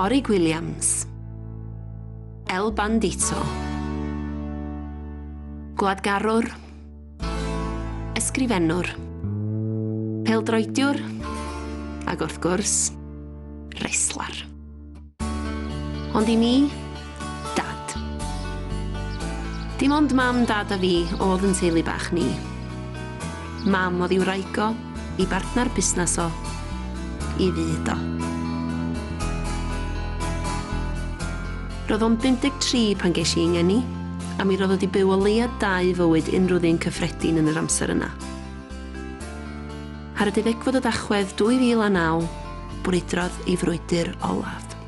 Orig Williams. El Bandito. Gwladgarwr. Ysgrifennwr. Peldroediwr. Ac wrth gwrs, reslar. Ond i mi, Dad. Dim ond Mam, Dad a fi o'dd yn teulu bach ni. Mam o'dd i wraig o, i bartnar busnas o, i fyd o. Ro'dd o'n 53 pan gesh i 'y ngeni, a mi ro'dd o 'di byw o leia dau fywyd unrhyw ddyn cyffredin yn yr amser yna. Ar y deuddegfed o Dachwedd 2009, brwydrodd ei frwydr olaf.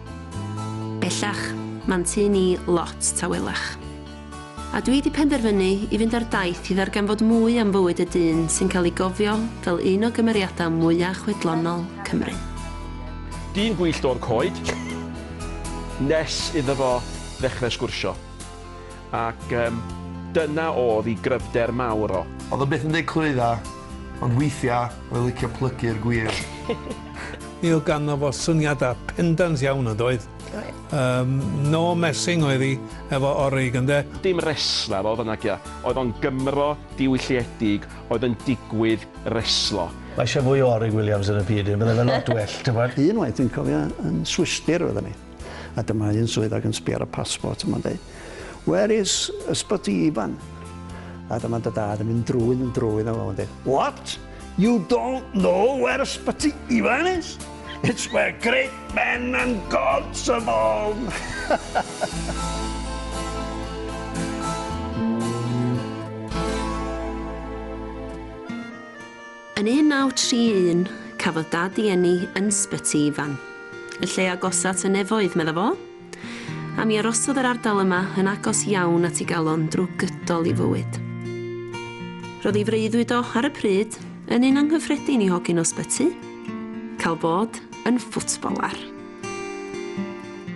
Bellach, ma'n tŷ ni lot tawelach. A dwi 'di penderfynu i fynd ar daith i ddarganfod mwy am fywyd y dyn sy'n cael ei gofio fel un o gymeriadau mwya' chwedlonol Cymru. Dyn gwyllt o'r coed, nes iddo fo ddechrau sgwrsio. Ac yym, dyna o'dd i gryfder mawr o. O'dd o byth yn deud clwydda, ond weithia oedd licio plygu'r gwir. Mi oedd ganddo fo syniada pendant iawn yn doedd? Oedd. Yym, no messing oedd i efo Orig ynde? Dim resla fel fy nagya, oedd o'n Gymro diwylliedig oedd yn digwydd reslo. Mae isio fwy o Orig Williams yn y byd, byddai fe lot well, t'bod? Unwaith dwi'n cofio yn Swistir oeddan ni. A dyma un swydd ag yn sbio ar y passport yma'n dweud, Where is Ysbyty Ifan? A dyma dy dad yn mynd drwy'n yn drwy'n a fo'n dweud, What? You don't know where Ysbyty Ifan is? It's where great men and gods are born! Yn 1931, cafodd Dad ei eni yn Sbyty Ifan, y lle agosa at y nefoedd, medda fo, a mi arosodd yr ardal yma yn agos iawn at ei galon drwy gydol ei fywyd. Roedd ei freuddwyd o, ar y pryd, yn un anghyffredin i hogyn o Sbyty, cael bod yn ffwtbolar.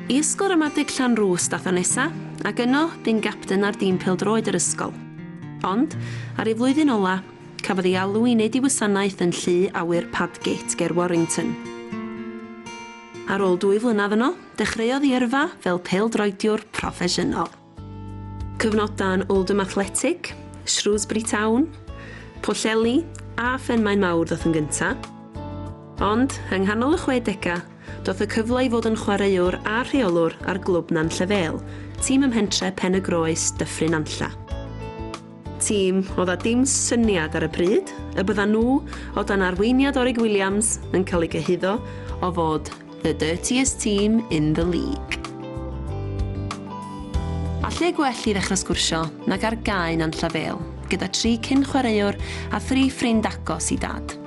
I Ysgol Ramadeg Llanrwst ddath o nesa, ac yno, bu'n gapten ar dîm pêl-droed yr ysgol. Ond, ar ei flwyddyn ola, Cafodd ei alw i wneud ei wasanaeth yn Llu Awyr Padgate ger Warrington. Ar ôl dwy flynedd yno, dechreuodd ei yrfa fel pêl-droediwr proffesiynol. Cyfnodau yn Oldham Athletic, Shrewsbury Town, Pwllheli a Phenmaenmawr ddoth yn gyntaf, ond yng nghanol y chwedegau, Daeth y cyfle i fod yn chwaraewr a rheolwr ar glwb Nantlle Vale, tîm ym mhentre' Pen-y-groes, Dyffryn Nantlle. Tîm oedd â dim syniad ar y pryd y byddan nhw, o dan arweiniad Orig Williams, yn cael eu cyhuddo o fod 'the dirtiest team in the league'. A lle gwell i ddechrau sgwrsio nag ar gae Nantlle Vale gyda tri cyn-chwaraewr a thri ffrind agos i Dad.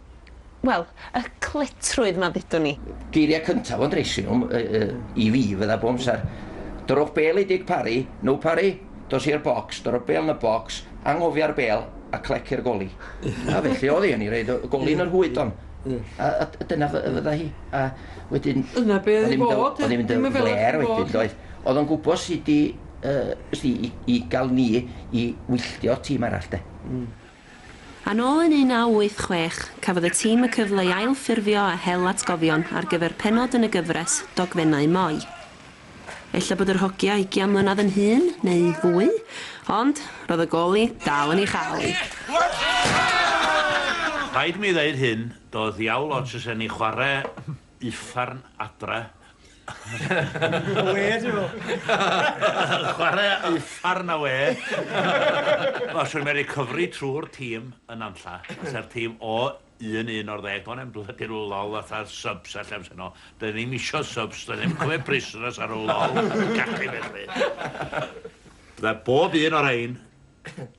wel, y cletrwydd 'ma ddudwn i. Geiriau cyntaf o'n dressing room, i fi, fydda bob amser, Dorrwch bêl i Dic Parri, no Parri, dos i'r bocs, dorro'r bêl yn y bocs, anghofio'r bêl, a clec i'r goli. A felly oedd hi, o'n i roid y goli yn yr hwyd on. A dyna fydda hi. A wedyn... Dyna be oedd i fod, oedd ddim yn fela i fod. Oedd hi'n mynd yn flêr wedyn, doedd. Oedd o'n gwybod sut i, ysdi, i gael ni i wylltio'r tîm arall, de. Yn ôl yn 1986, cafodd y tîm y cyfle i ail-ffurfio a hel atgofion ar gyfer pennod yn y gyfres Dogfennau Moi. Ella bod yr hogia ugian mlynedd yn hŷn, neu fwy, ond roedd y goli dal yn ei chael hi. Rhaid mi ddeud hyn, doedd diawl ots os e'n ni chwarae Uffern adra. Wê, dwi'n meddwl. Chwarae uffern a wê. Wel, swn i'n medru cyfri trwy'r tîm yn Nantlla, tase'r tîm o 1-11, doedd na'm blydi rhyw lol fatha subs a llefydd yno. Doedd ni'm isio subs, doedd ni'm yn cymryd prisoners ar rhyw lol cachu felly. Bydda bob un o rhein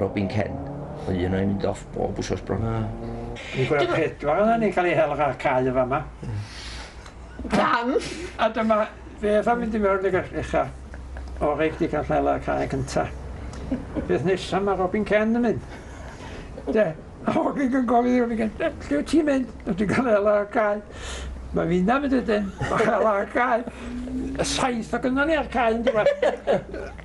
Robin Ken. Oedd un o'i mynd off bob wsos bron. Na. Fi'n gweld pedwar yna ni'n cael ei hel ar cae yn fama. Pam? A dyma fe efa mynd i mewn ag echa o reit di cael hel ar cae cynta. Beth nesa mae Robin Ken yn mynd. De, a hogyn yn gofyn i Robin Ken, lle wyt ti'n mynd? Wyt ti'n cael hel ar cae? Mae finna mynd ydyn, o hel ar cae. Y saith o gynna ni ar cae yn diwedd.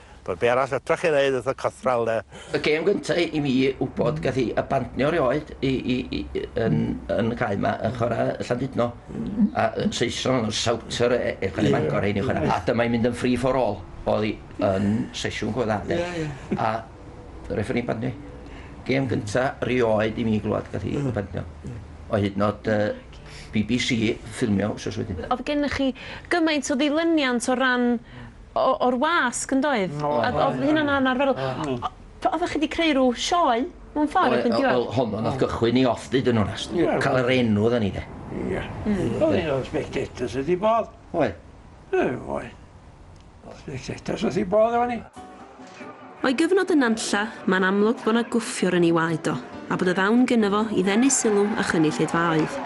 Wel be arall fedra chi neud wrth y cythral de? Y gêm gynta i mi wbod gath i abandnio rioed i i i yn yn y cae ma yn chwara Llandudno a yy Saeson o'dd o'n Souter e- e- chwara Bangor rhein yn chwara a dyma i'n mynd yn free for all o'dd i yn sesiwn go dda de a refferî'n bandnio i. Gêm gynta rioed i mi glwad gath i bandnio o hyd nod yy Bee Bee See ffilmio wsos wedyn. O'dd gennych chi gymaint o ddilyniant o ran o o'r wasg yn doedd? O oedd. O'dd hynna'n anarferol. P- oddach chi 'di creu rw sioe mewn ffor erbyn diwedd? Wel honno nath gychwyn 'i off deud yn onast. Ca'l yr enw oddan ni 'de. Ia. Hmm. O'dd un o'r spectators ydi Bob. Oedd. Yy oedd. O'dd spectators wrth 'i bodd efo ni. O'i gyfnod yn Nantlla, mae'n amlwg bod 'na gwffiwr yn ei waed o, a bod y ddawn gynno fo i ddenu sylw a chynnu lleidfaoedd.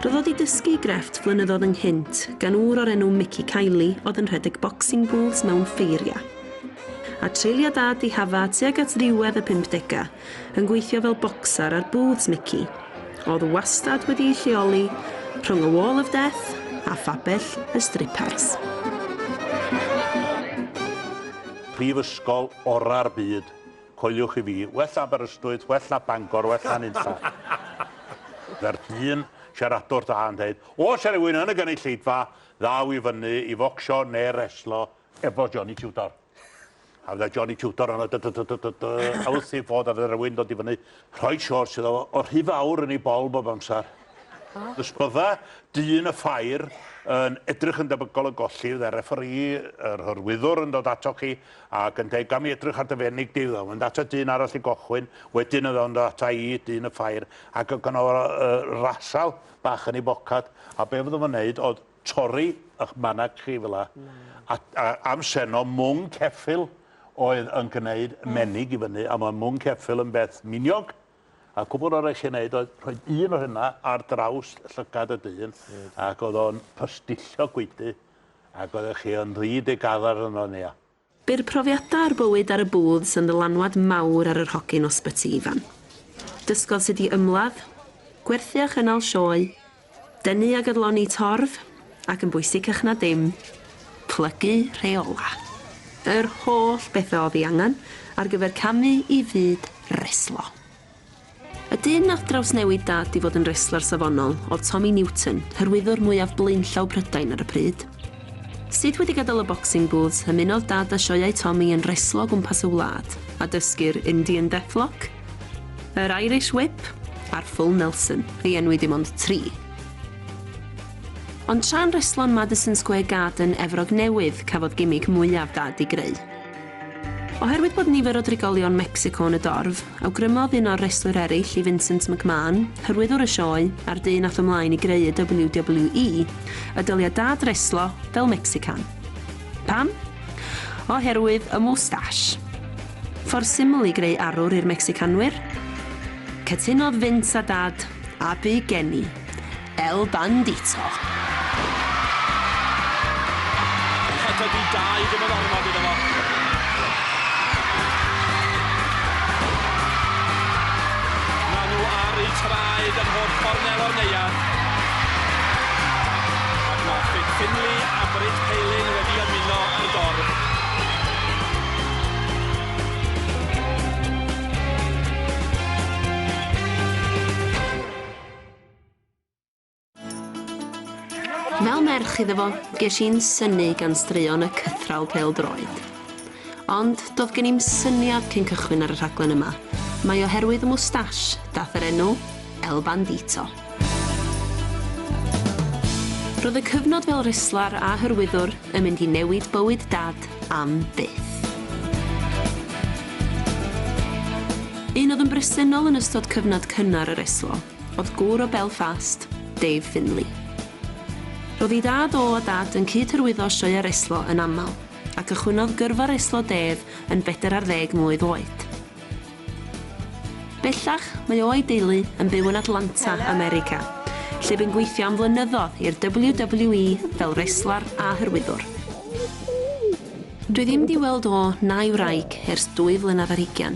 Roedd o 'di dysgu ei grefft flynyddoedd ynghynt gan ŵr o'r enw Mickey Kiely oedd yn rhedeg boxing booths mewn ffeiriau. A treuliodd dad ddihafa tuag at ddiwedd y pump degau yn gweithio fel bocsar ar booths Mickey, oedd wastad wedi'i lleoli rhwng y Wall of Death a phabell y Strippers. Prifysgol orau'r byd, coeliwch i fi, well na Aberystwyth, well na Bangor, well na nunlla. Mae'r dyn siaradwr da yn dweud, os yw rhywun yn y gynulleidfa, ddaw i fyny i focsio neu reslo efo Johnny Tudor. A fydda Johnny Tudor yno dy dy dy dy dy dy a wrth ei fod a fydda rhywun dod i fyny rhoi shorts iddo fo rhy fawr yn ei bol bob amser. Os bydda dyn y ffair yn edrych yn debygol o golli fydda refferî yr hyrwyddwr yn dod ato chi ac yn deud gam i edrych ar dy fenig di fydda mynd ato dyn arall i gochwyn wedyn fydda yn dod ata i dyn y ffair ac yn gynno rasal bach yn ei bocad a be fydda fo'n neud oedd torri ych manag chi fel 'a. A a am seno mwng ceffyl oedd yn gneud menig i fyny a ma' mwng ceffyl yn beth miniog a cwbwl arall i neud oedd rhoi un o hynna ar draws llygad y dyn ac o'dd o'n pysdillio gwaedu ac oeddech chi yn rhy digaddar yno nia. Bu'r profiadau a'r bywyd ar y booths yn ddylanwad mawr ar yr hogyn o Sbyty Ifan. Dysgodd sut i ymladd, gwerthu a chynnal sioe, denu ac adloni torf, ac yn bwysicach na dim, plygu rheolau. Yr holl bethau oedd ei angen ar gyfer camu i fyd reslo. Y dyn nath drawsnewid Dad i fod yn resler safonol oedd Tommy Newton, hyrwyddwr mwyaf blaenllaw Prydain ar y pryd. Sut wedi gadael y boxing booths, ymunodd Dad â sioeau Tommy yn reslo o gwmpas y wlad, a dysgu'r Indian Deathlock, yr Irish Whip a'r Full Nelson. Ei enwi dim ond tri. Ond tra'n reslo yn Madison Square Garden, Efrog Newydd, cafodd gimmick mwyaf Dad i greu. Oherwydd bod nifer o drigolion Mecsico yn y dorf, awgrymodd un o'r restlwyr eraill i Vincent McMahon, hyrwyddwr y sioe a'r dyn ath ymlaen i greu y WWE, y dylia Dad reslo fel Mecsican. Pam? Oherwydd y mwstash. Ffordd syml i greu arwr i'r Mecsicanwyr? Cytunodd Vince a Dad, a bu geni. El Bandito. A dydy dau ddim yn ormod iddo fo. Maen nhw ar eu traed yn holl gornel o'r neuadd. Ac mae Fit Finley a Britt Paling wedi ymuno ar dorf. Fel merch iddo fo, ges i'n synu gan straeon y cythraul pêl-droed. Ond do'dd gen i'm syniad cyn cychwyn ar y rhaglen yma, mai oherwydd y mwstash dath yr enw El Bandito. Ro'dd y cyfnod fel reslar a hyrwyddwr yn mynd i newid bywyd Dad am byth. Un o'dd yn bresennol yn ystod cyfnod cynnar yr Eslo. oedd gŵr o Belfast, Dave Finley. Roedd ei dad o a dad yn cyd-hyrwyddo sioeau reslo yn aml, a cychwynnodd gyrfa reslo Dave yn bedair ar ddeg mlwydd oed. Bellach, mae o a'i deulu yn byw yn Atlanta, America, lle bu'n gweithio am flynyddoedd i'r WWE fel reslar a hyrwyddwr. Dwi ddim 'di weld o na'i wraig ers dwy flynedd ar hugain,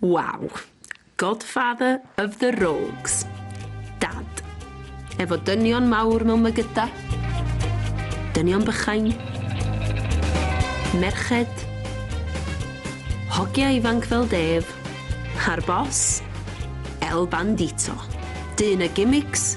Waw! Godfather of the Rogues. Dad. Efo dynion mawr mewn mygyda. Dynion bychain. Merched. Hogia ifanc fel Dave. A'r boss? El Bandito. Dyn y gimics.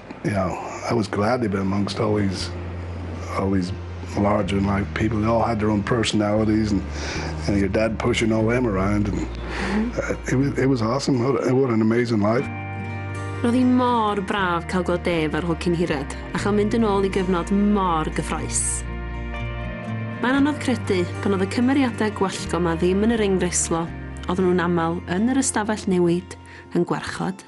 You know, I was glad to be amongst all these, all these larger than life people. They all had their own personalities and, and your dad pushing all them around. And, uh, it, was, it was awesome. What, what an amazing life. Roedd hi mor braf cael gweld Dave ar Hwcyn Hired a chael mynd yn ôl i gyfnod mor gyffroes. Mae'n anodd credu pan oedd y cymeriadau gwallgo yma ddim yn yr engreislo, oedden nhw'n aml yn yr ystafell newid, yn gwarchod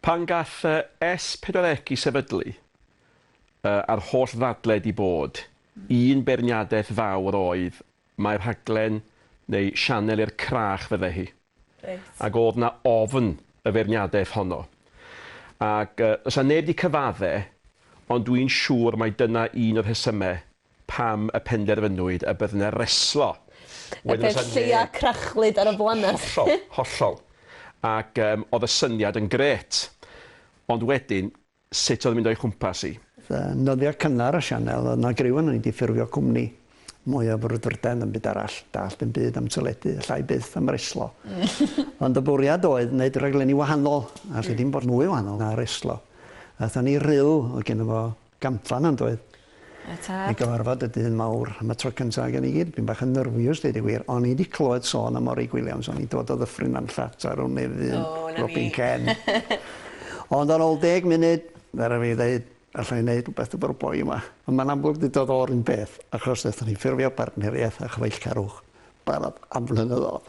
Pan gall y S40C sefydlu, y, a'r holl ddadled i bod, un beirniadaeth fawr oedd mai rhaglen neu sianel i'r crach fydde hi. Reit. Ac o'dd 'na ofn y feirniadaeth honno. Ac, y, does 'na neb 'di cyfadde, ond dwi'n siŵr mai dyna un o'r rhesyme pam y penderfynwyd y bydd 'na reslo. Y peth lleia crachlyd ar y blaned. Hollol, hollol. Ac yym o'dd y syniad yn grêt. Ond wedyn, sut o'dd yn mynd o'i chwmpas 'i? Yn nyddia cynnar y sianel o'dd 'na griw arnon ni 'di ffurfio cwmni mwy o frwdfrydedd na'm byd arall, dallt dim byd am teledu, allai byth am reslo. Ond y bwriad oedd neud rhaglenni wahanol, a lle dim bod mwy wahanol na reslo. Athon ni ryl, o'dd genno fo Gampfa 'na yndoedd? Yy tad. I gyfarfod y dyn mawr am y tro cynta ag yn i gyd. Pyn bach yn nyrfiws deud y gwir. O'n i 'di clywed sôn am Morrig Williams. O'n i dod o Ddyffryn Nant Llats ar wn nefyn. O 'na ni. Robin Ken. Ond ar ol deg munud fe rai' fi ddeud alla i neud rwbeth efo'r boi yma. On' ma'n amlwg 'di dod o'r un peth achos nethon ni ffurfio partneriaeth â Chyfaill Carwch barod am flynyddodd.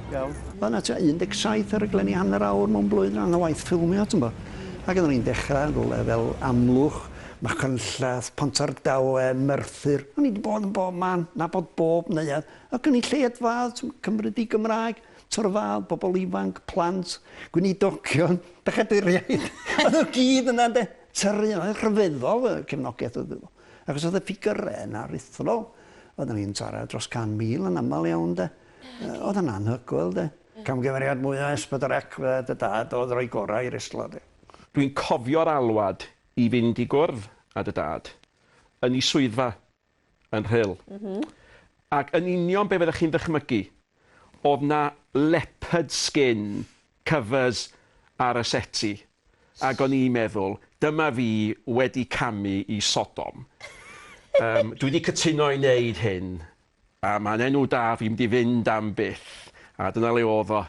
Iawn. Wel 'na ti 17 o raglenni hanner awr mewn blwyddyn rhan o waith ffilmio t'mbo'. Ag oddan ni'n dechra yn rwle fel Amlwch, Machynlleth, Pontardawe, Merthyr, o'n i 'di bod yn bob man, nabod bob neuadd, y gynulleidfaodd, t'm' cymryd 'u Gymraeg, torfaodd, bobol ifanc, plant, gweinidogion, bechaduriaid, a n'w gyd yna ynde? Tyrru yna, rhyfeddol y cefnogaeth o'dd iddo fo. Achos o'dd y ffigyre yna aruthrol. Oddan ni'n taro dros 100,000 yn amal iawn 'de. O'dd o'n anhygoel 'de. Camgymeriad mwya Esbydrec fydde dy dad o'dd roi gora i reslo 'de. Dwi'n cofio'r alwad i fynd i gwrdd a dy dad yn i swyddfa yn Rhyl. Ac yn union be fyddech chi'n ddychmygu, o'dd 'na leopard skin covers ar y seti ac o'n i'n meddwl dyma fi wedi camu i Sodom. Dwi 'di cytuno i neud hyn A mae'n enw da fi mynd i fynd am byth. A dyna le oedd o.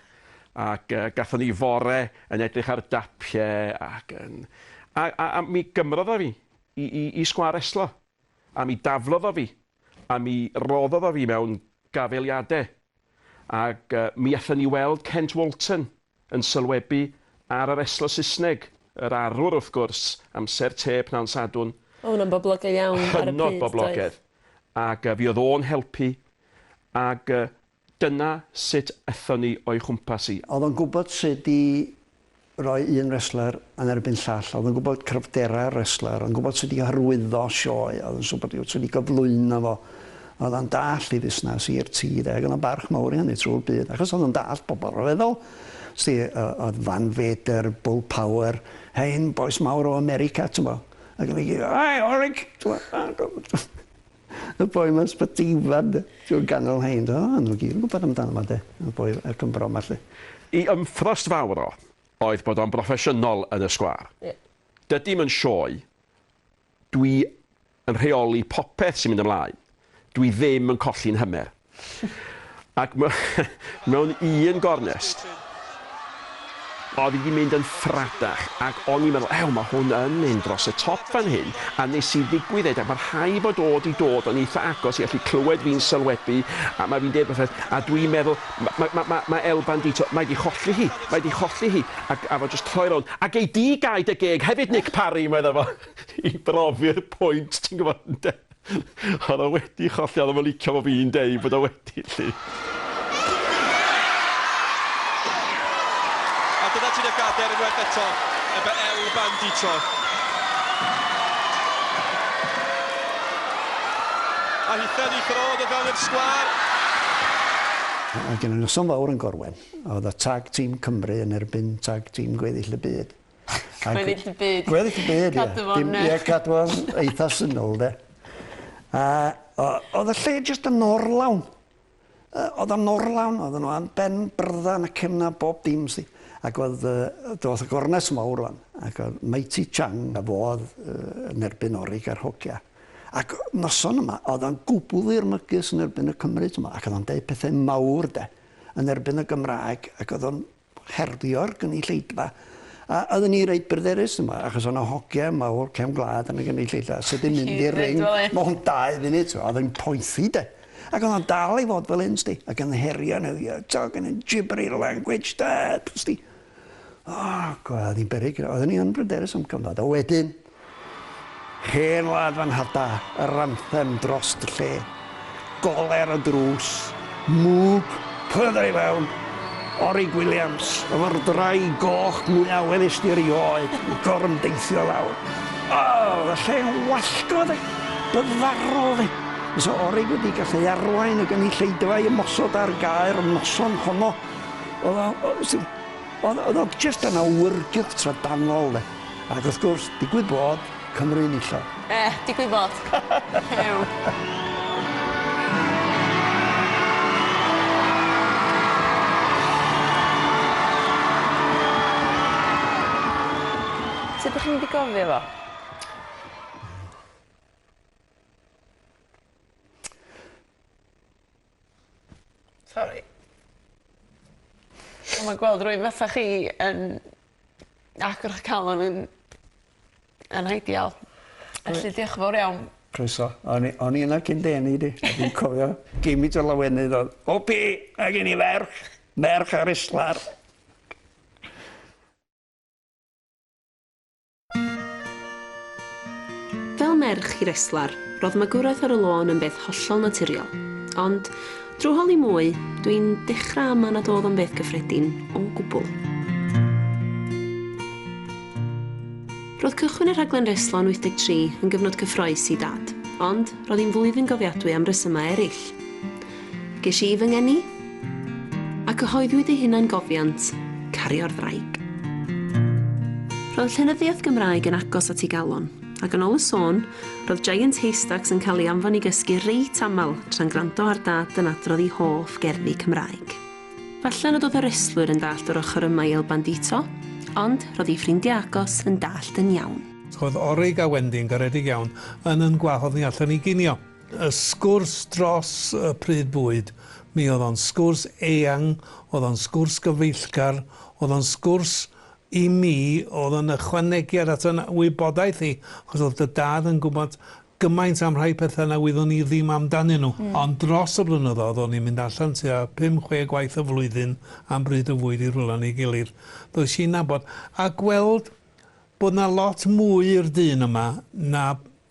Ac yy gathon ni fore yn edrych ar dapie ac yn... A a a mi gymrodd o fi i i i sgwâr reslo. A mi daflodd o fi. A mi roddodd o fi mewn gafeliade. Ac yy mi allwn ni weld Kent Walton. Yn sylwebu ar yr eslo Saesneg, yr arwr wrth gwrs, amser te pnawn Sadwrn. Oedd hwnna'n boblogaidd iawn ar y pryd, doedd? Hynod boblogaidd. Ac yy, fuodd o'n helpu, ac yy, dyna sut aethon ni o'i chwmpas hi. Oedd o'n gwybod sut i roi un wrestler yn erbyn llall, oedd o'n gwybod cryfderau'r wrestler, oedd o'n gwybod sut i hyrwyddo sioe, oedd o'n siŵr bod hi wrth swn i gyflwyno fo. Oedd o'n dallt i fusnas, i'r tir, ac oedd o'n barch mawr i hynny trwy'r byd, achos oedd o'n dallt pobl ryfeddol. Sti, oedd Van Vader, Bull Power, hein bois mawr o America, ti'n bo. Ac oedd i, oi, orig, ti'n bo. Y boi mae'n sbytifan, ti'n ganol hein, o, nhw gyd yn gwybod amdano fo, de, y boi y Cymro yma, lle. I ymthrost fawr o, oedd bod o'n broffesiynol yn y sgwâr. Ie. Dydy hi'm yn sioe, Dwi yn rheoli popeth sy'n mynd ymlaen. Dwi ddim yn colli'n hymer. Ac mewn un gornest, oedd hi 'di mynd yn ffradach, ac o'n i'n meddwl, ew, mae hwn yn mynd dros y top fan hyn, a nes i ddigwydded, ac mae rhai fod o 'di dod yn eitha agos i allu clywed fi'n sylwebu, a mae fi'n deud rhywbeth, a dwi'n meddwl, Mae, mae, mae, mae El Bandito, mae 'di cholli hi, mae 'di cholli hi, ac a fo jyst troi rownd, a gei di gau dy geg hefyd Nick Parry, medda fo, i brofi'r pwynt, ti'n gwybod, ynde? Oedd o wedi cholli, oedd o'm yn licio fo fi'n deud bod o wedi, 'lly. A dyna ti dy gader unwaith eto, ebe El Bandito. A hithau ni throdd o fewn i'r sgwâr. Oedd gen y noson fawr yn Gorwen. Oedd y Tag Team Cymru yn erbyn Tag Team Gweddill y Byd. Gweddill y Byd. Gweddill y Byd, ie. Cadw fo'n... Ie, cadw fo'n eitha syml, de. A oedd y lle jyst yn orlawn. Oedd o'n orlawn, oedden nhw am ben byrddau na cefn na bob dim sti. Ac oedd, uh, doth y gornes mawr o'n, ac oedd Mighty Chang a fo oedd uh, yn erbyn Orig a'r hogia. Ac noson yma, oedd o'n gwbl ddirmygus yn erbyn y Cymru yma, ac oedd o'n deud pethau mawr de, yn erbyn y Gymraeg, ac oedd o'n herddio'r gynulleidfa. A oedden ni reit bryderus yma achos o' 'na hogia mawr cefn gwlad yn y gynulleidfa sy 'di mynd i'r ring ma' hwn dau funud t'mo' o'dd e'n poethi 'de. Ac o'dd o'n dal i fod fel 'yn sdi ac yn herio n'w ie t'og yn y gibbery language 'de sdi. O gwel o'n i'n beryg oeddwn i yn bryderus am cyfnod a wedyn Hen wlad fan hada, yr anthem drost y lle. Gole ar y drws, mwg, pydre i fewn. Orig Williams, y fordrai goch mwya welys di erioed, yn gorymdeithio lawr. O! Oedd y lle yn wallgo, de. Byddfarol, de. Fysa Orig wedi gallu arwain y gynulleidfa'i ymosod ar Gaer y noson honno. Oedd o, oedd o, oedd o, oedd o jyst yn awyrgylch trydanol, de. Ac wrth gwrs, digwydd bod, Cymru yn isel. Eh, digwydd bod. Hew. Sut dych chi'n mynd i gofio fo? Sori. Wel ma' gweld rywun fatha chi yn agor 'ych calon yn yn ideal. Felly dioch yn fowr iawn. Croeso. O'n i o'n i yna cyn dy eni di a dwi'n cofio gimynt o lawenydd o'dd Wwpi! Ma' gen i ferch! Merch ar Islar. Fel merch i reslar, ro'dd magwraeth ar y lôn yn beth hollol naturiol. Ond, drw holi mwy, dw i'n dechra ama nad o'dd o'n beth gyffredin o gwbwl. Ro'dd cychwyn y rhaglen reslo yn 83 yn gyfnod cyffroes i Dad, ond, ro'dd hi'n flwyddyn gofiadwy am resyma eryll. Ges i fy ngeni, a cyhoeddwyd ei hunangofiant, Cario'r Ddraig. Roedd llenyddiaeth Gymraeg yn agos at ei galon, ac yn ôl y sôn, roedd Giant Haystacks yn cael ei anfon i gysgu reit aml tra'n gwrando ar Dad yn adrodd ei hoff gerddi Cymraeg. Falle nad oedd y restlwyr yn dallt yr ochr yma i El Bandito, ond roedd ei ffrindiau agos yn dallt yn iawn. Roedd Orig a Wendy'n garedig iawn, yn yn gwahodd ni allan i ginio. Y sgwrs dros y pryd bwyd, mi oedd o'n sgwrs eang, oedd o'n sgwrs gyfeillgar, oedd o'n sgwrs i mi oedd yn ychwanegiad at fy wybodaeth i, achos oedd dy dad yn gwybod gymaint am rhai pethau na wyddwn i ddim amdanyn nhw. Ond dros y blynyddoedd, o'n i'n mynd allan tua pum, chwe gwaith y flwyddyn am bryd o fwyd i rwla neu gilydd, ddoes i'n nabod a gweld Bod 'na lot mwy i'r dyn yma na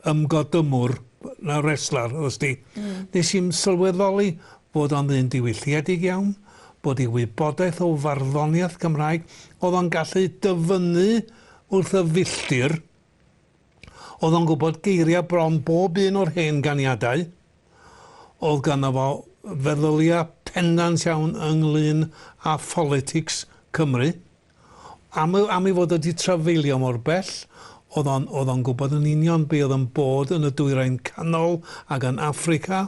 ymgodymwr, na wrestler, wst ti. Nes i'm sylweddoli bod o'n ddyn diwylliedig iawn, bod ei wybodaeth o farddoniaeth Cymraeg, o'dd o'n gallu dyfynnu wrth y filltir, o'dd o'n gwbod geiria' bron bob un o'r hen ganiadau, o'dd ganddo fo feddylia' pendant iawn ynglŷn â pholitics Cymru. Am ei, am ei fod o 'di trafeilio mor bell, o'dd o'n, o'dd o'n gwbod yn union be' o'dd yn bod yn y Dwyrain Canol ag yn Affrica.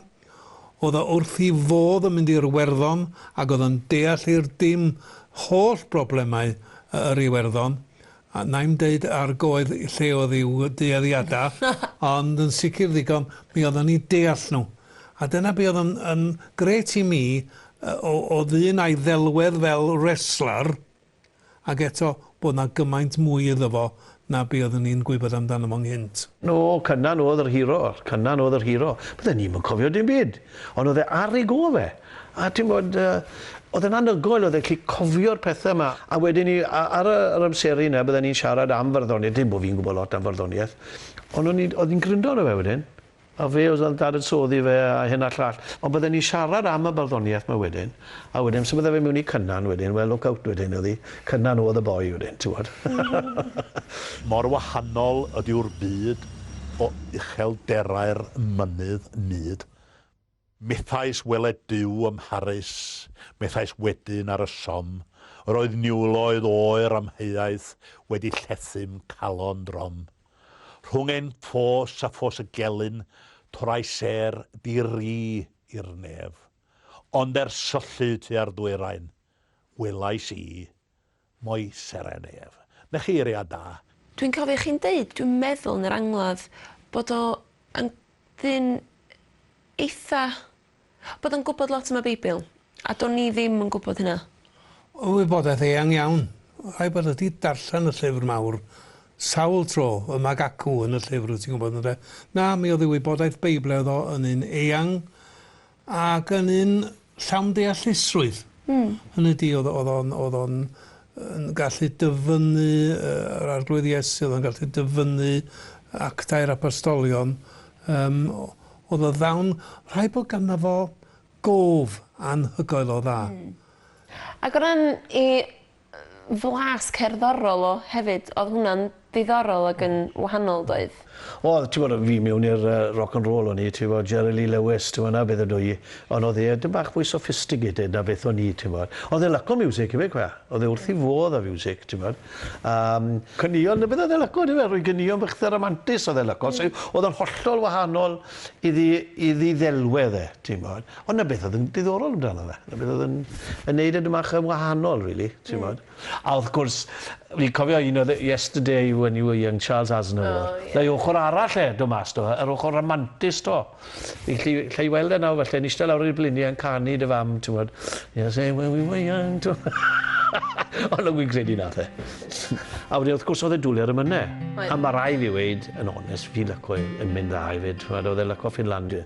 O'dd o wrth 'i fodd yn mynd i'r Werddon ag o'dd yn deall i'r dim holl broblemau y- yr Iwerddon. A 'nai'm deud ar goedd lle o'dd i'w dueddiada, ond yn sicr ddigon, mi o'dd o'n 'u deall nhw. A dyna be' o'dd yn, yn grêt i mi o, o ddyn a'i ddelwedd fel wrestler, ac eto bod 'na gymaint mwy iddo fo na be' oeddwn i'n gwybod amdano fo'n nghynt. No, Cynan oedd yr hero, Cynan oedd yr hero. Bydden ni'm yn cofio dim byd, ond oedd e ar ei gôl fe. A ti'n gwbod, yy, oedd e'n anhygoel, oedd e'n gallu cofio'r pethe 'ma. A wedyn 'ny, a- ar y- yr amseru 'na, bydden ni'n siarad am farddoniaeth, dim bo' fi'n gwbod lot am farddoniaeth, ond o'n i'n, oedd hi'n gryndo arno fe wedyn. A fe oedd yn dadansoddi fe a hyn a'r llall. Ond bydden ni'n siarad am y barddoniaeth 'ma wedyn, a wedyn symudai fe mewn i Cynan wedyn, wel look out wedyn oedd 'i. Cynan oedd y boi wedyn, ti'mod. Mor wahanol ydyw'r byd o uchelderau'r mynydd mud, Methais weled Duw ym Mharis, methais wedyn ar y Somme, yr oedd niwloedd oer amheuaeth wedi llethum calon drom. Rhwng ein ffos a ffos y gelyn, torrai sêr di-ri i'r nef. Ond er syllu tua'r ddwyrain, welais i Mwy seren ef. Na chi eiriau da. Dwi'n cofio chi'n deud, dwi'n meddwl yn yr angladd, bod o yn ddyn eitha'... bod o'n gwybod lot am y Beibl, a do'n i ddim yn gwybod hynna. Oedd wybodaeth eang iawn. Rhaid bod o 'di darllen y llyfr mawr sawl tro, y Mag Acw yn y llyfr, ti'n gwybod, ynde? Na, mi oedd ei wybodaeth Beibledd o yn un eang, Ac yn un llawn deallusrwydd. Hynny ydi, oedd oedd o'n oedd o'n yn gallu dyfynnu yr Arglwydd Iesu, oedd o'n gallu dyfynnu actau'r Apostolion. Yym, oedd o ddawn, rhaid bod ganddo fo gof anhygoel o dda. Ag o ran 'i flas cerddorol o hefyd, odd hwnna'n ddiddorol ag yn wahanol doedd? Odd, t'mod o' fi mewn i'r yy rock and roll o'n i t'mod Jerry Lee Lewis t'mod 'na beth ydw i on' odd e tym' bach mwy sophistigated na beth o'n i t'mod. Odd e lyco miwsic ife cwel, odd e wrth 'i fodd â fiwsic t'mod a yym caneuon na beth odd e lyco on'd yfe roi ganeuon bach 'tha ramantus odd e lyco sy odd yn hollol wahanol iddi iddi ddelwedd e t'mod. Ond 'na beth oedd yn diddorol amdano fe. 'Na beth oedd yn yn neud e 'dyn mach yn wahanol rili, t'mod? A wrth gwrs fi'n cofio un oedd e Yesterday When You Were Young Charles Aznavour. O ie. 'Na ei ochor arall e do' mas 'to fe, yr ochor ramantus 'to. Fi gallu allai weld e nawr felle'n ishte lawr ar ei blinie yn canu 'da fam t'mod Yesterday When We Were Young t'mo'. Ond o'n i'n credu nath e. A wedyn wrth gwrs o'dd e dwli ar y mynne. Oedd. A ma' rai' fi weud yn onest fi'n lico e yn mynd dda efyd t'mod o'dd e'n lico Finlandia.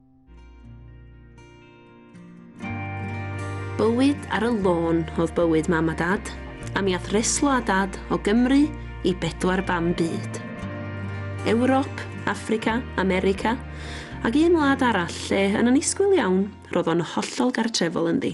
Bywyd ar y lôn oedd bywyd mam a dad, a mi ath reslo a dad o Gymru i bedwar bam byd. Ewrop, Affrica, America, ac un wlad arall lle, yn annisgwyl iawn, roedd o'n hollol gartrefol ynddi.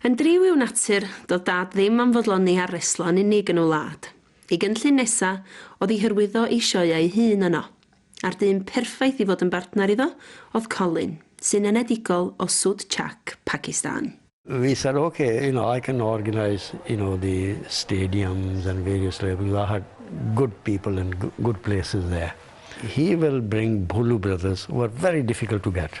Yn driw i'w natur, doedd Dad ddim am fodloni ar reslo yn unig yn y wlad. Ei gynllun nesa oedd i hyrwyddo ei sioeau ei hun yno. A'r dyn perffaith i fod yn bartner iddo oedd Colin, sy'n enedigol o Sud Chak, Pakistan. We said ok, you know, I can organise, you know, the stadiums and various levels, I had good people and good places there. He will bring Bholu brothers who are very difficult to get.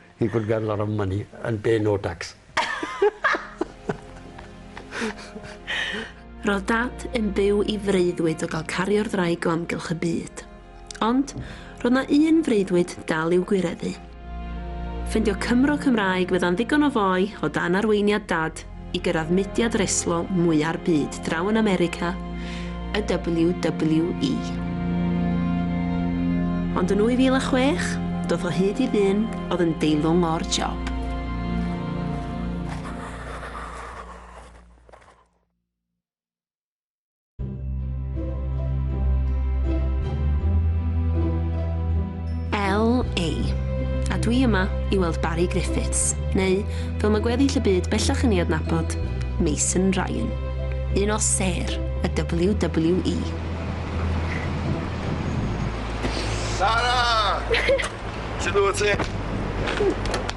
He could get a lot of money and pay no tax. Roedd Dad yn byw i freuddwyd o gael cario'r ddraig o amgylch y byd. Ond, roedd na un freuddwyd dal i'w gwireddu. Ffindio Cymro Cymraeg fydda'n ddigon o foi o dan arweiniad Dad i gyrraedd mudiad reslo mwya'r byd draw yn America, y WWE. Ond yn 2006, doth o hyd i ddyn oedd yn deilwng o'r job. LA. A dwi yma i weld Barry Griffiths, neu, fel mae gweddill y byd bellach yn ei adnabod, Mason Ryan. Un o ser y WWE. Sara! Sut wyt ti?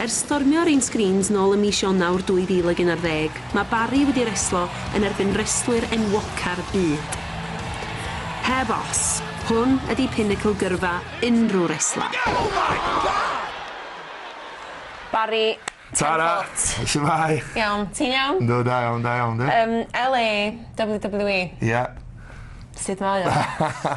Ers stormio'r un sgrîns nôl ym mis Ionawr 2011, mae Barry wedi reslo yn erbyn restlwyr enwoca'r byd. Heb os, hwn ydi pinacl gyrfa unrhyw resler. Barry, ten foot. Tara! Shwmae? Iawn, ti'n iawn? Yndw, da iawn, da iawn, dw. Yym, LA, WWE. Ie. Sut mae o?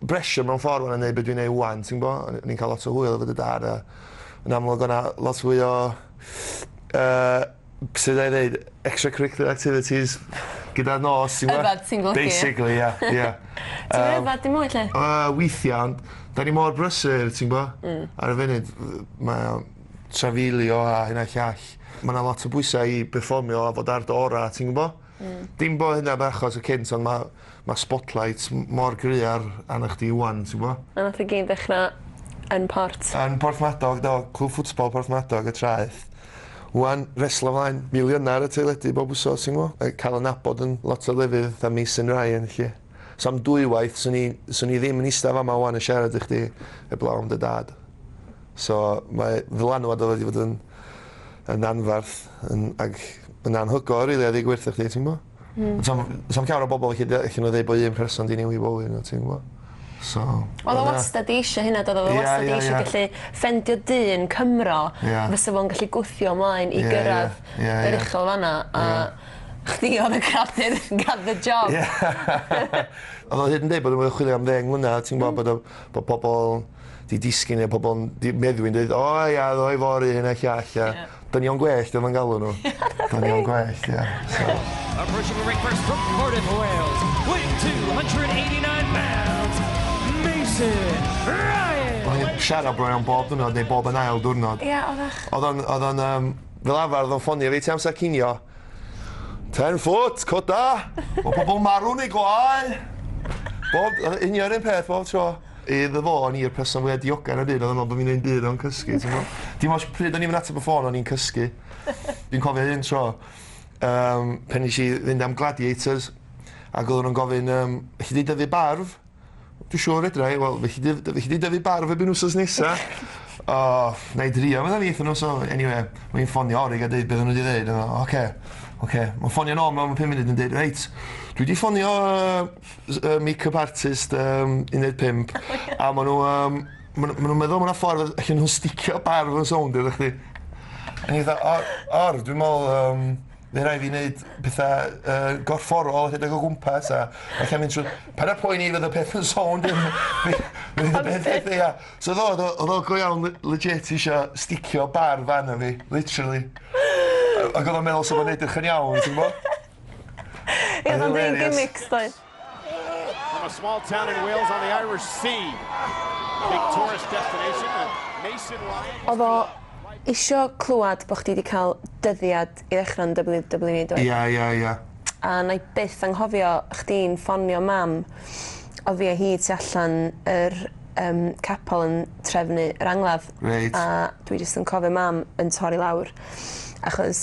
bressure mewn ffordd fan 'na neud be' dwi'n neud ŵan ti'n gwbo? O'n i'n ca'l lot o hwyl efo dy dad a yn amlwg o' 'na lot fwy o yy sud 'nai ddeud extra curricular activities gyda'r nos ti'n gwbo? Yfed ti'n golchi. Basically ia ia. Yym. Ti'm yn yfed dim mwy 'lly? Yy weithia' ond 'dan ni mor brysur ti'n gwbo? Hmm. Ar y funud f- yy mae o trafeilio a hyn a llall. Ma' 'na lot o bwysa' i perfformio a fod ar dy ora' ti'n gwbo? Hmm. Dim bo' hynna 'n achos y cynt on' ma' Mae spotlight mor gry ar arna chdi ŵan, ti'n gwbo? A nath e gyd ddechra yn Port? Yn Porthmadog do, Clwb Ffwtbol Porthmadog y traeth. Ŵan, reslo mlaen, filiyna ar y teledu bob wsos ti'n gwbo? Yy ca'l y nabod yn lot o lefydd fatha Mason Ryan felly. So am dwywaith swn i swn i ddim yn ista fama ŵan yn siarad i chdi heblaw am dy dad. So mae ddylanwad o wedi bod yn yn anfarth yn ag yn anhygoel rili a ddeu gwir 'tha chdi ti'n gwbo? Hmm. Sa'm sa'm llawer o bobol ellu de- ellu n'w ddeu bo' un person 'di newid bywyd n'w ti'n gwbo? So... O'dd o wastad 'di eisio hynna do'dd o? O'dd o wastad 'di eisio gallu ffendio dyn Cymro fysa fo'n gallu gwthio ymlaen i gyrradd yr uchel fan 'na a chdi o'dd y cradur got the job. O'dd o hyd yn deud bod o chwilio am ddeng mlynadd ti'n gwbo bod o bo' pobol 'di disgyn ne' pobol 'di meddwi'n deud o ia o'dd o i fory hyn a llall a Dynion gwellt oedd o'n galw nhw. Dynion gwellt, ie. Approaching the ring first from Cardiff, Wales, weighing 289 pounds, Mason Ryan! O'n i'n siarad bron iawn bob diwrnod, neu bob yn ail diwrnod. Ie, oeddach. Oedd o'n, oedd o'n, um, fel arfer, oedd o'n ffonio fi ti amser cinio. Ten foot, coda! Mae pobl marw neu gwael! Bob, union un peth bob tro. Iddo fo, o'n i'r person fwya diogar yn y byd, oedd o'n meddwl bod fi'n neud byd o'n cysgu, ti'n gwbod? Dim ots pryd o'n i'm yn ateb y ffôn, o'n i'n cysgu. Fi'n cofio un tro, um, pen nes i fynd am Gladiators, ac oedden nhw'n gofyn, um, chi di dyfu barf? Dwi'n siŵr fedra i, wel, chi di dyfu barf erbyn wsos nesa. O, oh, na i drio, meddwl fi, nhw, so, anyway, mae'n ffonio orig a dweud beth nhw wedi dweud, oce, oce. Mae'n ffonio nôl mewn 5 munud yn dweud, reit, dwi wedi ffonio s- yy make-up artist yym 15 a ma' n'w yym ma' n'w ma' nw'n meddwl ma' 'na ffordd yy allen nhw sticio barf yn sownd iddo chdi. O'n i fatha o or dwi me'wl yym by' rai' fi neud petha yy gorfforol a rhedeg o gwmpas a ella mynd trw... Paid â poeni fydd y peth yn sownd yn by- fydd y peth yn dda. So o'dd o o'dd o o'dd o go iawn le- legit isio sticio barf arno fi literally. Ag o'dd o'n meddwl sa fo'n edrych yn iawn ti'n gwbo? Ie, ond un gimmicks doedd. From a small town in Wales on the Irish Sea. Big tourist destination and Mason Ryan. Oedd o isio clywed bod chdi wedi cael dyddiad i ddechrau yn WWE doedd? Ia, ia, ia. A na i byth anghofio chdi'n ffonio mam oedd fi a hi tu allan yr um, capel yn trefnu yr angladd. Reit. A dwi jyst yn cofio mam yn torri lawr achos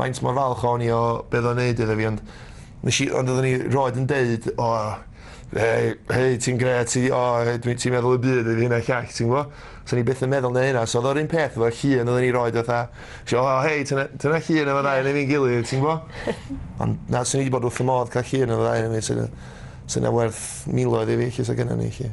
Faint mor falch o'n i o be' o'dd o'n neud iddo fi ond nesh i ond oddwn i rioed yn deud o hei hei ti'n grêt ti o hei dwi ti'n meddwl y byd i fi hyn a llall ti'n gwbo? So o'n i byth yn meddwl neu' hynna so o'dd o'r un peth efo llun oddwn i rioed fatha isio o hei ti ne- ti 'na llun efo ddau o ni efo'n gilydd ti'n gwbo? Ond na swn i 'di bod wrth fy modd ca'l llun efo ddau o ni 'lly 'de. Sa ynna werth miloedd i fi 'lly sa gynna ni 'lly.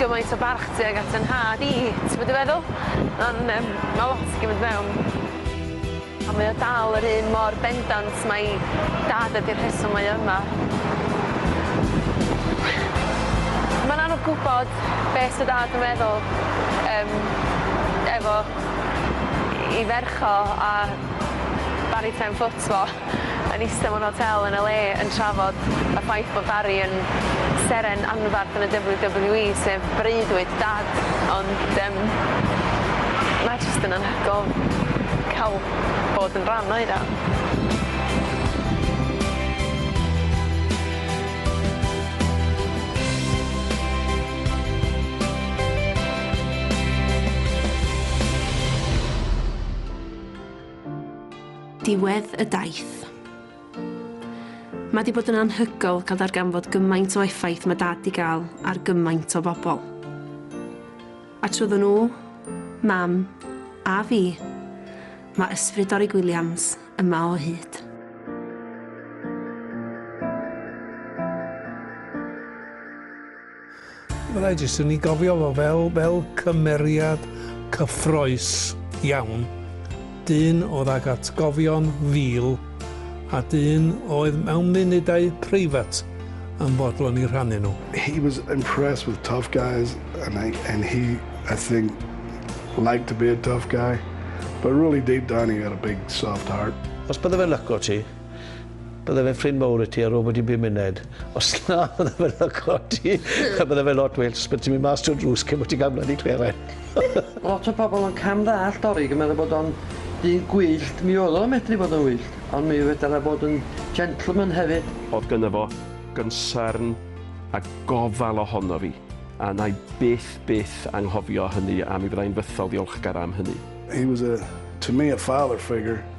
gymaint o barch tuag at fy nhad i, ti gwbod be' dwi feddwl? Ma'n yym ma' lot yn cymyd mewn. A mae o dal yr un mor bendant mai dad ydi'r rheswm mae o yma. Ma'n anodd gwbod be' sa dad yn meddwl yym efo 'i ferch o a baru pen ffwt fo. yn eistedd mewn hotel yn LA yn trafod y ffaith bod Barry yn seren anferth yn y WWE, sef breuddwyd Dad, ond yym mae jyst yn anhygoel cael bod yn rhan o hynna. Diwedd y daith. Mae di bod yn anhygol cael darganfod gymaint o effaith mae Dad di gael ar gymaint o bobl. A trwyddo nhw, Mam, a fi, mae ysbryd Dorig Williams yma o hyd. Fyddai jyst yn ei gofio fo fel, fel cymeriad cyffroes iawn. Dyn oedd ag atgofion fil a dyn oedd mewn munudau preifat yn fodlon i rhannu nhw. He was impressed with tough guys and, I, and he, I think, liked to be a tough guy. But really deep down he had a big soft heart. Os bydde fe'n lyco ti, Bydde fe'n ffrind mowr i ti a robot i bum muned. Os na, bydde fe'n llygodi. a bydde fe'n lot well, bydde ti'n mynd mas trwy'r drws cyn bod ti'n cael blydi cleren. Lot o bobl yn cam ddallt Dorig yn meddwl bod o'n dyn gwyllt, mi oedd o'n medru bod yn wyllt, ond mi fedar e fod yn gentleman hefyd. O'dd gynno fo gynsyrn a gofal ohono fi, a 'na i byth, byth anghofio hynny a mi fydda i'n fythol ddiolchgar am hynny. He was a, to me, a father figure.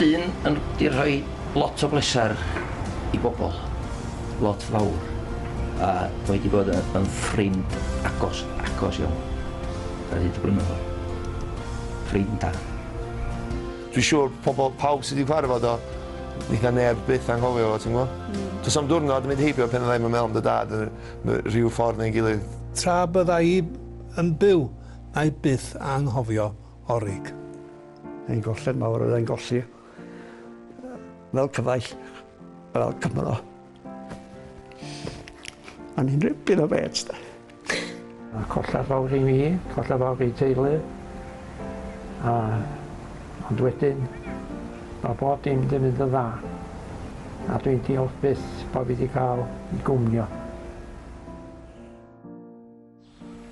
Dyn yn di rhoi lot o bleser i bobl, lot fawr, a mae wedi bod yn ffrind agos, agos iawn, ar hyd y blynyddoedd. Ffrind da. Dwi'n siŵr pobl, pawb sydd wedi cyfarfod o, fydd neb byth anghofio fo, ti'n gwybod? Mm. Does am diwrnod yn mynd heibio pen fyddai'm yn meddwl am dy dad yn rhyw ffordd neu'n gilydd. Tra bydda i yn byw, na i byth anghofio Orig. Ein golled mawr oedd ein golli fel cyfaill, fel Cymro. A ni'n ripyn o bets da. A colla fawr i mi, colla fawr i teulu. A, ond wedyn, mae bob dim wedi mynd yn dda. A dwi'n diolch byth bod fi wedi cael gwmnio.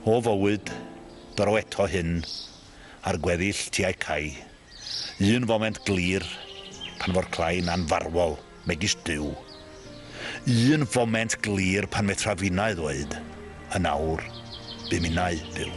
O fywyd, bro eto hyn, ar gweddill tiau cau, un foment glir, pan fo'r clain anfarwol, megis Duw. Un foment glir pan fetra finnau ddweud, yn awr, bu minnau, byw.